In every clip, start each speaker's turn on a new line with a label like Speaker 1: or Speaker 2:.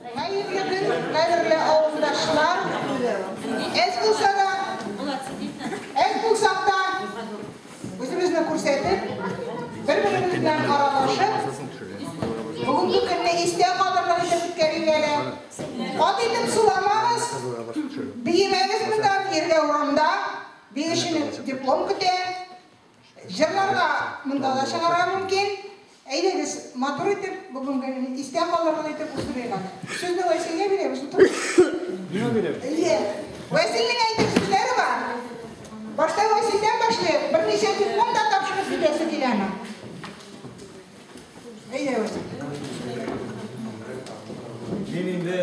Speaker 1: Хәерле көн, кадерле авылдашлар! Әз булса да, әз булсак та, үзебезне күрсәтеп, бер-беребез белән аралашып, бүгенге көнне истә кадрлар итеп үткәрик әле. Кат итеп суламагыз, биемәгез монда, иргә урамда, биючене диплом көтә. Җырларга монда да чыгарга мөмкин. Әйдәгез, матур итеп, бүген көнен истә калырлык итеп уздырыйк аны. Сүзне Вәсилгә бирәбез, утырыгыз. Миңа бирәбез. Әйе. Вәсилнең әйтер сүзләре бар. Башта Вәсилдән башлыйк, берничә секунд да тапшырып җибәрәсе киләме? Мин инде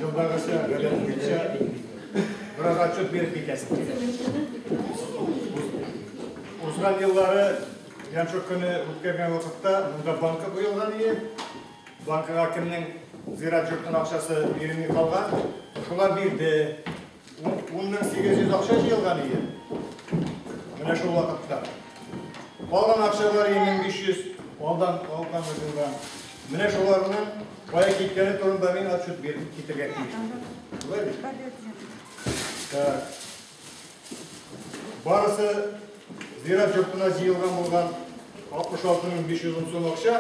Speaker 1: елдагыча, гадәтемчә, бераз отчет биреп китәсем килә. Узган еллары Янчук көне үткәргән вакытта монда банка куелган иде. Банкага кемнең зират йортының акчасы бирелми калган, шулар бирде. Ун мең сигез йөз акча җыелган иде. Менә шул вакытта. Калган акчалар ике мең биш йөз алдан алган булган. Менә шуларның кая киткәне турында мин отчет биреп китергә тиеш. Шулай бит? Так. Барысы зират йортына җыелган булган 66 мең 500 сум акча.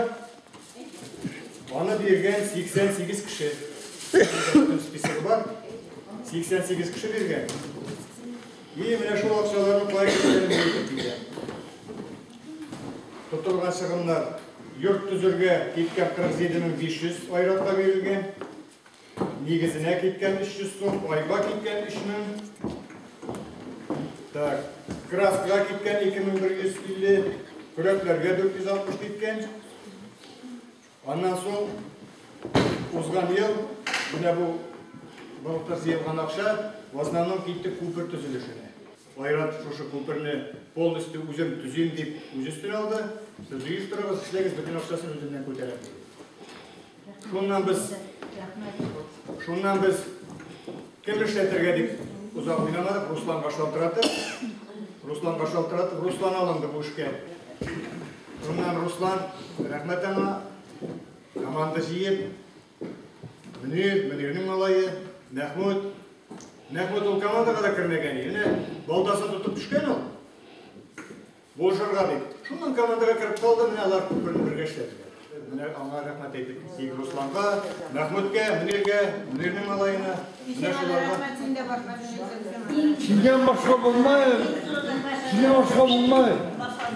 Speaker 1: Аны биргән 88 кеше. Списогы бар. 88 кеше биргән. И менә шул акчаларны кая китерергә килгән. Тотылган чыгымнар йорт төзергә киткән 47500 айратка бирелгән. Нигезенә киткән 300 сум, айга киткән 3000. Так, краскага киткән 2150, көрәкләргә 460 киткән. Аннан соң узган ел менә бу балыкта җыелган акча в основном китте күпер төзелешенә. Айрат шушы күперне полностью үзем төзим дип үз өстенә алды. Сез җыештырыгыз, эшләгез, бөтен акчасын үзеннән күтәрәм. Шуннан без Шуннан без кем эшләтергә дип узап уйламадык, Русланга шалтыратып, Русланга шалтыратып, Руслан алынды бу эшкә. Шуннан Руслан, рәхмәт аңа, команда җыеп, Мөнир, Мөнирнең малае, Мәхмүд. Мәхмүд ул командаға да кермәгән, яне балдасын тотып төшкән ул. Булышырга бит. Шуннан командага кереп калды, менә алар күп белән бергә эшләделәр. Менә аңа рәхмәт әйтеп китик Русланга, Мәхмүткә, Мөниргә, Мөнирнең малаена. Менә шуларга. Синнән башка булмай. Синнән башка булмай.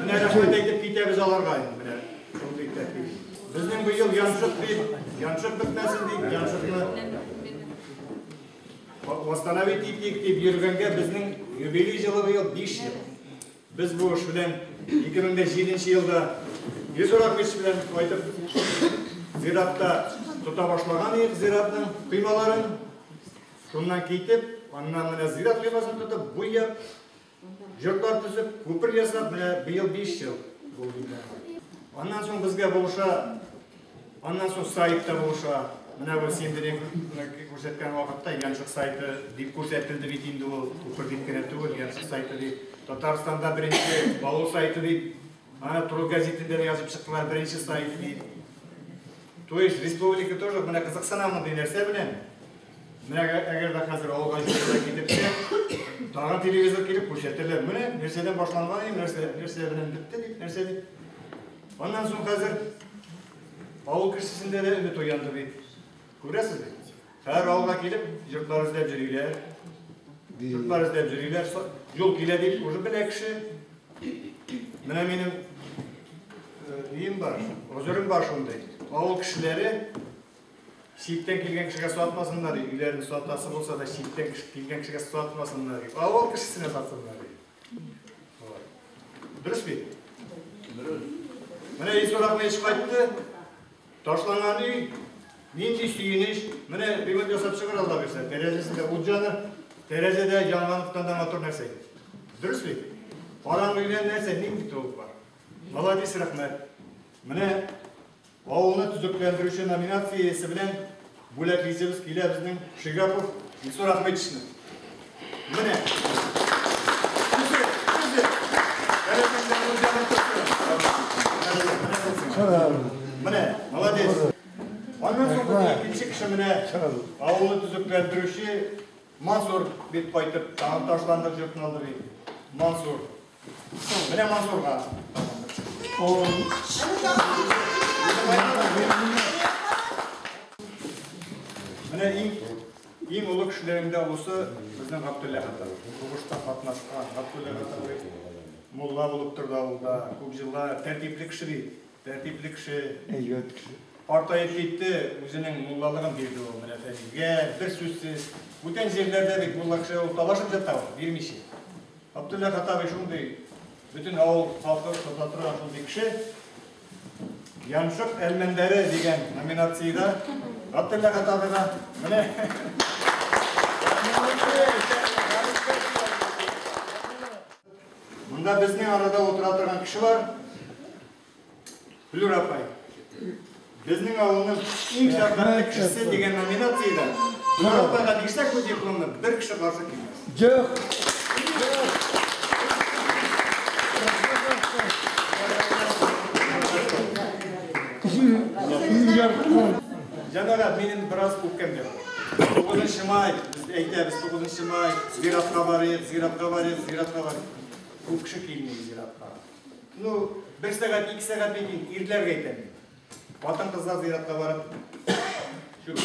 Speaker 1: Менә рәхмәт әйтеп китәбез аларга инде менә. Шундый тәртип. Безнең быел янчык дип, янчык бетмәсен дип, янчыкны восстановить итик дип йөргәнгә безнең юбилей җылы быел 5 ел. Без бу эш белән 2007 елда йөз урак көч белән кайтып зиратта тота башлаган идек зиратның коймаларын. Шуннан китеп, аннан менә зират коймасын тотып, буяп, йортлар төзеп, күпер ясап, менә быел 5 ел булды. Аннан соң безгә булыша Аннан соң сайт та булыша. Менә бу син берек күрсәткән вакытта Янчык сайты дип күрсәтелде бит инде ул. Күпер дип кенә түгел, Янчык сайты дип. Татарстанда беренче балу сайты дип, ана Труд газетында язып чыктылар, беренче сайт дип. То есть республика тоже менә кызыксына мондый нәрсә белән. Менә әгәр дә хәзер авылга җитәргә китепсә, тагын телевизор килеп күрсәтәләр. Менә нәрсәдән башланган, нәрсә нәрсә белән бетте дип, нәрсә дип. Аннан соң хәзер авыл кешесендә дә өмет уянды бит. Күрәсез бит. Һәр авылга килеп, йортлар эзләп йөриләр. Йортлар эзләп йөриләр. Юл килә дип, уже белә кеше. Менә минем өем бар, гозерем бар шундый. Авыл кешеләре читтән килгән кешегә сатмасыннар, өйләрен сатасы булса да, читтән килгән кешегә сатмасыннар. Авыл кешесенә сатсыннар. Дөрес бит? Дөрес. Менә Исорак мәйеш кайтты, ташланган өй, нинди сөенеш, менә бигот ясап чыгыр алла бирсә, тәрәзәсендә ут җаны, тәрәзәдә янганлыктан да матур нәрсә. Дөрес бит? Караңгы өйдән нәрсә, нинди тулык бар? Молодец, рәхмәт. Менә Авылны төзекләндерүче номинациясе белән бүләклисебез килә безнең Шигапов Илсур Ахмедичны. Менә. Менә, молодец. Аннан соң икенче кеше менә авылны төзекләндерүче Мансур бит кайтып, тагын ташландык журналды бит. Мансур. Менә Мансурга. Менә иң Иң олы кешеләрендә осы безнең Габдулла Хатан. Сугышта катнашкан Габдулла Хатан мулла булып торды авылда. Күп җыллар тәртипле кеше бит. Тәртипле кеше. Әйбәт кеше. Картаеп китте, үзенең муллалыгын бирде ул менә Фәнилгә, бер сүзсез. Бүтән җирләрдә бит мулла кеше ул талашып ята ул, бирмичә. Габдулла Хаттабый шундый бөтен авыл халкы тота торган шундый кеше. Яншык әлмәндәре дигән номинациядә Габдулла Хаттабыйга менә Монда безнең арада утыра торган кеше бар. Флюр апай. Безнең авылның иң шәфкатьле кешесе дигән номинациядә Флюр апайга бирсәк бу дипломны, бер кеше каршы килмәс. Җык. Җык. Җык. Җәмәгать, минем бераз үпкәм дә бар. Тугызынчы май, без әйтәбез, тугызынчы май, зиратка барыйк, зиратка барыйк, зиратка барыйк. Бу кеше килми зиратка. Ну, бер сәгать, ике сәгать бит ирләргә әйтәм. Хатын-кызлар зиратка барып, чүп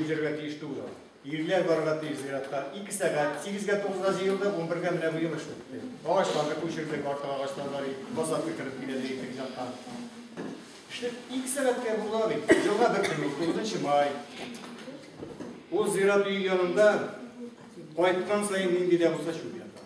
Speaker 1: җиргә тиеш түгел. Ирләр барырга тиеш зиратка. Ике сәгать, сигезгә, тугызга җыелдык, унбергә менә бу йомыш бетте. Агачларны күчердек, артык агачлар бар иде, посадка кереп килә дигән итек якка. Эшле ике сәгатькә була бит. Елга бер көн узды, унынчы май. Ул зират өй янында кайткан саен нинди дә булса чүп ята.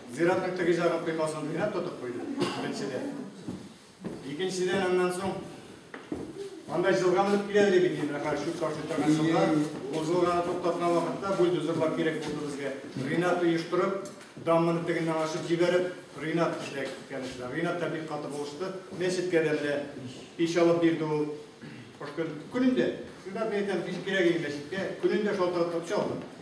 Speaker 1: Зиратның теге җагы коймасын уйнап тотып куйды, беренчедән. Икенчедән, аннан соң анда җылга менеп килә иде бит инде, хәл шүп ташлый торган җылга. Ул җылганы туктаткан вакытта бульдозерлар кирәк булды безгә. Ринат оештырып, дамманы тегеннән ачып җибәреп, Ринат эшләп киткән эшләр. Ринат та бик каты булышты. Мәчеткә дә менә пич алып бирде ул. Кыш көн, көнендә, шунда әйтәм, пич кирәк иде мәчеткә, көнендә шалтыратып чалды.